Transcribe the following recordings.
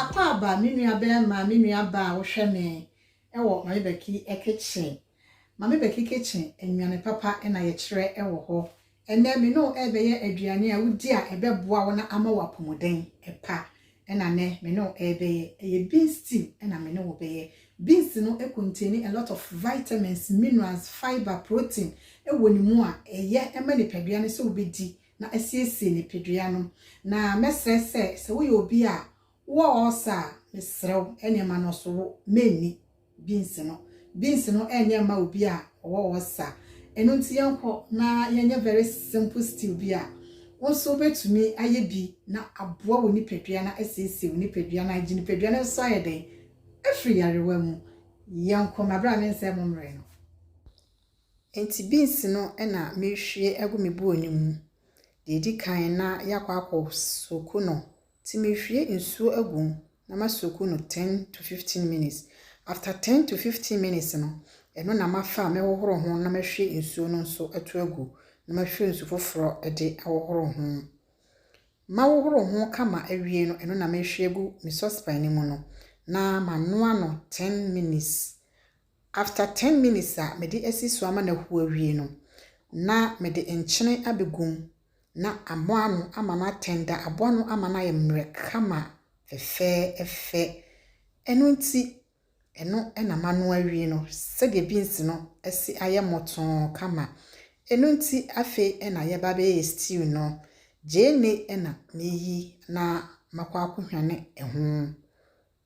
Akwaaba, me nua bɛɛma, me nua baa wohwɛ me ɛwɔ Mame Bɛki kitchen, Mame Bɛki kitchen nnuane papa ɛna yɛkyerɛ ɛwɔ hɔ. Ɛnnɛ, me ne wo rebɛyɛ aduane a wodi a ɛbɛboa wo na ama wo apɔmuden pa na nnɛ me ne wo rebɛyɛ. Ɛyɛ beans stew na me ne wo bɛyɛ. Beans no contain a lot of vitamins, minerals, fibre, protein wɔ ne mu a ɛyɛ ma nipadua no sɛ wobɛdi na asiesie nipadua no. Na mɛsrɛ sɛ, sɛ woyɛ obi a Wɔ ɔɔsa a, mesrɛ wo, nneɛma no so wo, menni, beans no. Beans no nyɛ mma obi a ɔwɔ ɔɔsa. Ɛno nti yɛnkɔ na yɛnyɛ very simple stew bi a wo nso wobɛtumi ayɛ bi na aboa wo nipadua no asiesie wo nipadua no agye nipadua no nso ayɛ dɛn? Afiri yarewa mu. Yɛnkɔ, mabrɛ a mensɛe mo mmerɛ no. Enti beans no na merehwie agu me buo no mu. Deɛ ɛdi kan na yɛakɔ akɔ soak no Nti mehwie nsuo agu mu na ma soaku no ten to fifteen minutes, after ten to fifteen minutes no, ɛno na mafa a mɛhohoro ho na mahwie nsuo no nso ato agu na mahwie nsu foforɔ de ahohoro ho. Mahohoro ho kama awie no, ɛno na mehwie agu me sɔspan no mu no na manoa no ten minutes After ten minutes a mede asi so ama no ahuw awie no, na mede nkyene abegu mu na amoa ano ama no atɛnda, aboa no ama no ayɛ mmerɛ kama fɛfɛɛfɛ. Ɛno nti, ɛno na manoa awie no sɛdeɛ beans no asi ayɛ mmɔtoo kama. Ɛno nti afei na yɛba abɛyɛ stew no. Gyeene na meyi na makɔ akɔhwane ho.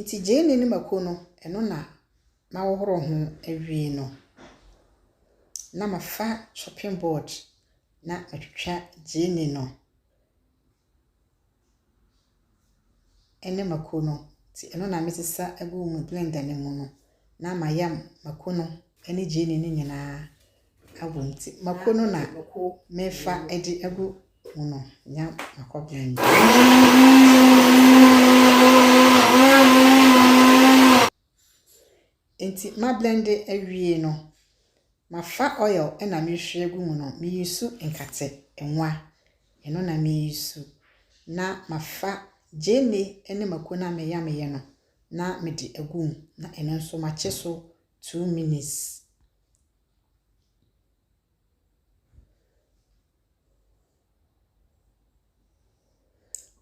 Nti gyeene no mako no, ɛno na mahohoro ho awie no, na mafa chopping board na matwitwa gyeene no ne mako no. Nti ɛno na mesesa gu me blender no mu no, na mayam mako no ne gyeene no nyinaa abom. Nti mako no na mefa de agu . Hwɛ no, nya m'akɔbea nyi. Enti ma blende awie no, mafa oil na merehwie agu mu no, me use nkate nwa. Ɛno na me use. Na mafa gyeene ne mako no a me yameɛ no na me de agu mu. Na ɛno nso makye so two minutes.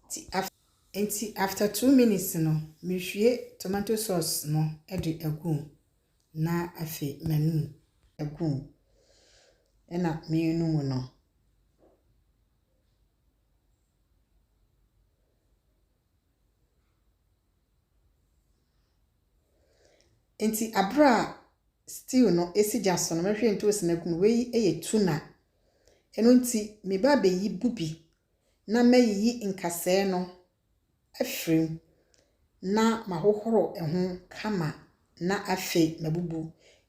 Ntsi af ntsi after two minutes no, muhue tomato sauce no de agu mu, na afei manu mu agu mu na menu mu no. Ntsi aber a stew no esi gya so no, mehue ntoosi no egu mu. Wei yɛ tuna. Ɛno nti, me ba bɛyi bu bi na mayiyi nkasɛɛ no afiri mu na mahohoro ɛho kama na afei mabubu.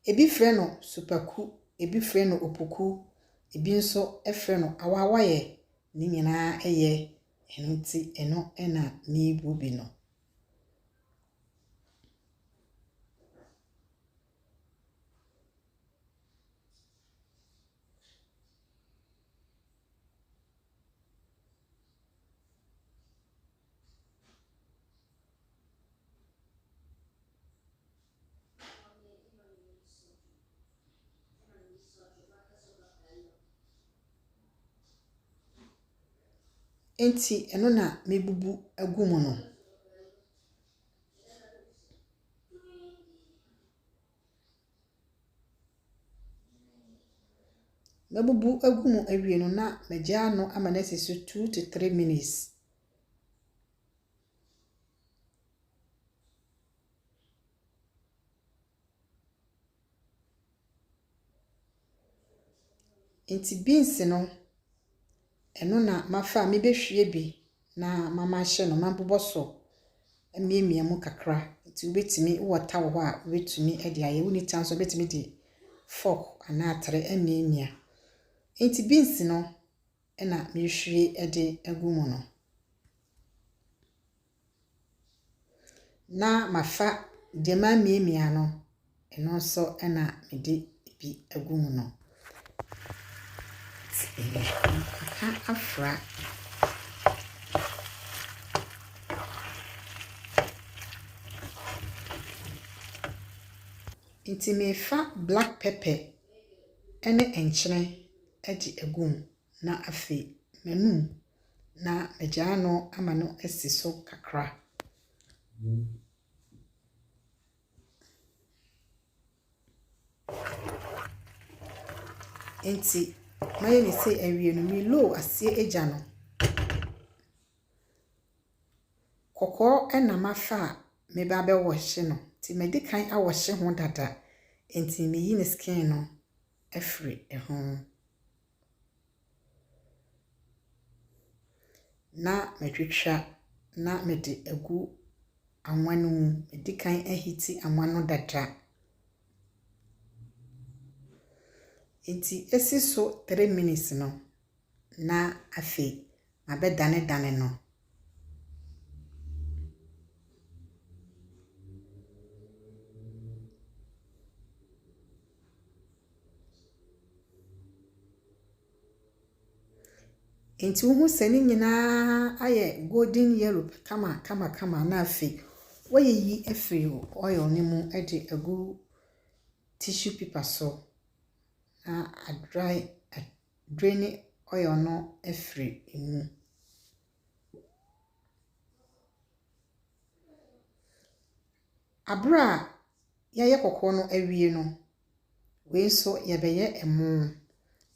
Ɛbi frɛ no supaku, ɛbi frɛ no opoku, ɛbi nso frɛ no awawaeɛ, ne nyinaa yɛ, ɛno nti ɛno na mebu bi no. Enti ɛno na mebubu agu mu no. Mɛbubu agu mu awie no na magyaa ano ama no asi so two to three minutes. Nti beans no, ɛno na mafa a mebɛhwie bi na mama ahyɛ no ma mabobɔ so amiamia mu kakra. Nti wobɛtumi, wowɔ ta wɔ hɔ a wobɛtumi de ayɛ, wonni ta nso wobɛtumi de fork anaa atere amiamia. Nti beans no na mehwie de agu mu no. Na mafa deɛ mamiamia no, ɛno nso na mede bi agu mu no. Maka afra. Nti mefa black pepper ne nkyene de agu mu. na afei m'anom, na magyaa no ama no asi so kakra. Enti mayɛ ne sɛ awie no, meloo aseɛ agya no. Kɔkɔɔ na mafa a meba abɛwɔhye no, nti madi kan awɔhye ho dada, enti meyi ne skin no afiri ho. Na matwitwa na mede agu anwa no mu. Madi kan ahiti anwa no dada. Enti esi so three minutes no, na afei abɛdanedane no. Enti wohu sɛ ne nyinaa ayɛ golden yellow kama kama kama na afei woayiyi afiri oil no mu de agu tissue paper so na adry. draini ɔyɔ no afiri mu. Abere a yɛyɛ kɔkɔɔ no awie no, wei nso yɛbɛyɛ ɛmo.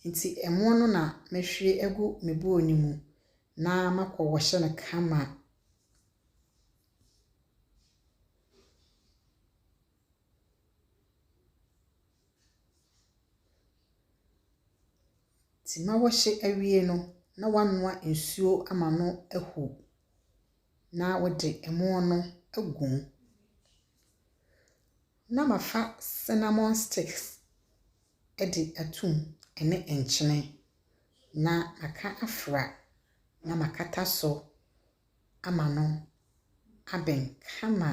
Nti ɛmo no na mɛhwie agu me bowl no mu na makɔ wɔhyɛ no kama. Tema wɔhye awie no na wanoa nsuo ama no ahu na wode ɛmo no agu mu. Na mafa cinnamon sticks de ato mu ɛne nkyene na maka afra na makata so ama no abɛn kama.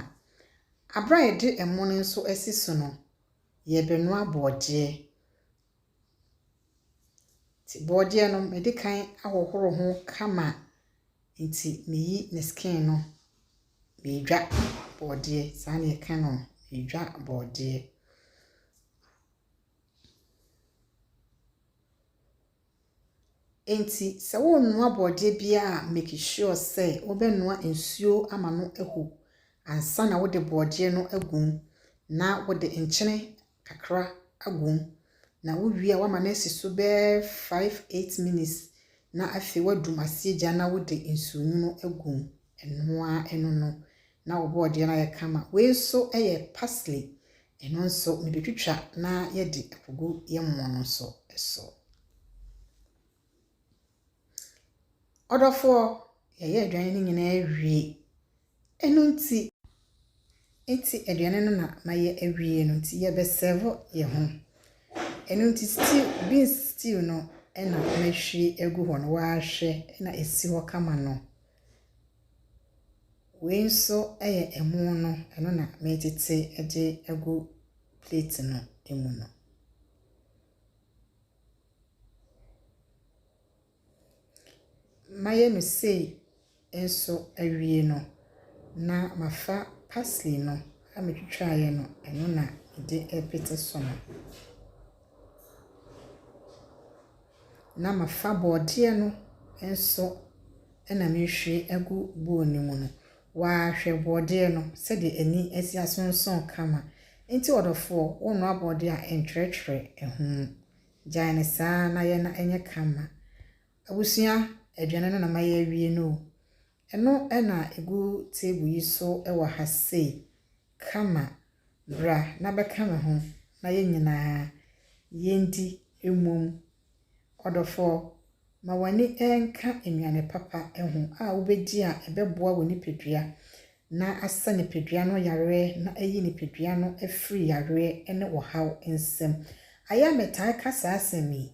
Bere a yɛde ɛmo no nso asi so no, yɛrebɛnoa borɔdeɛ. Nti borɔdeɛ no, mede kan ahohoro ho kama. Nti meyi ne skin no, meredwa borɔdeɛ. Saa na yɛka no, meredwa borɔdeɛ. Enti sɛ worenoa borɔdeɛ biara a make sure sɛ wobɛnoa nsuo ama no ahu ansa na wode borɔdeɛ no agu mu na wode nkyene kakra agu mu na wowie a woama no asi so bɛyɛ five eight minutes na afei woadum aseɛ gya na wode nsuonwunu agu mu, ɛno ara ɛno no Na wo bɔɔdeɛ no ayɛ kama. Wei nso yɛ parsley. Ɛno nso mede twitwa na yɛde akogu yɛn mmoa no nso so. Ɔdɔfoɔ, yɛyɛ aduane no nyinaa awie. Ɛno nti, nti aduane no na mayɛ awie no nti yɛbɛsɛvo yɛn ho. Ɛno nti stew, beans stew no na mahwie agu hɔ no, wahwɛ na ɛsi hɔ kama no. Wei nso yɛ ɛmo no, ɛno na metete de agu plate no mu no. Mayɛ no sei nso awie no, na mafa parsley no a metwitwaeɛ no, ɛno na mede repete so no. na mafa borɔdeɛ no nso na merehwie agu bowl no mu no, waa hwɛ borɔdeɛ no sɛdeɛ ani asi asonson kama. Nti ɔdɔfoɔ, wonoa borɔdeɛ a ntwerɛtwerɛ ɛho. Gyae no saa na yɛ na ɛnyɛ kama. Abusua, aduane no na mayɛ awie no o. Ɛno na egu table yi so wɔ ha sei. Kama, bra na bɛka me ho na yɛn nyinaa yendi mmom. Ɔdɔfɔɔ, ma w'ani nka nnuane papa ho a wobedi a ɛbɛboa wo nipadua na asɛ nipadua no yareɛ na ayi nipadua no afiri yareɛ ne ɔhaw nsam. Ayɛ a metaa ka saa asɛm yi,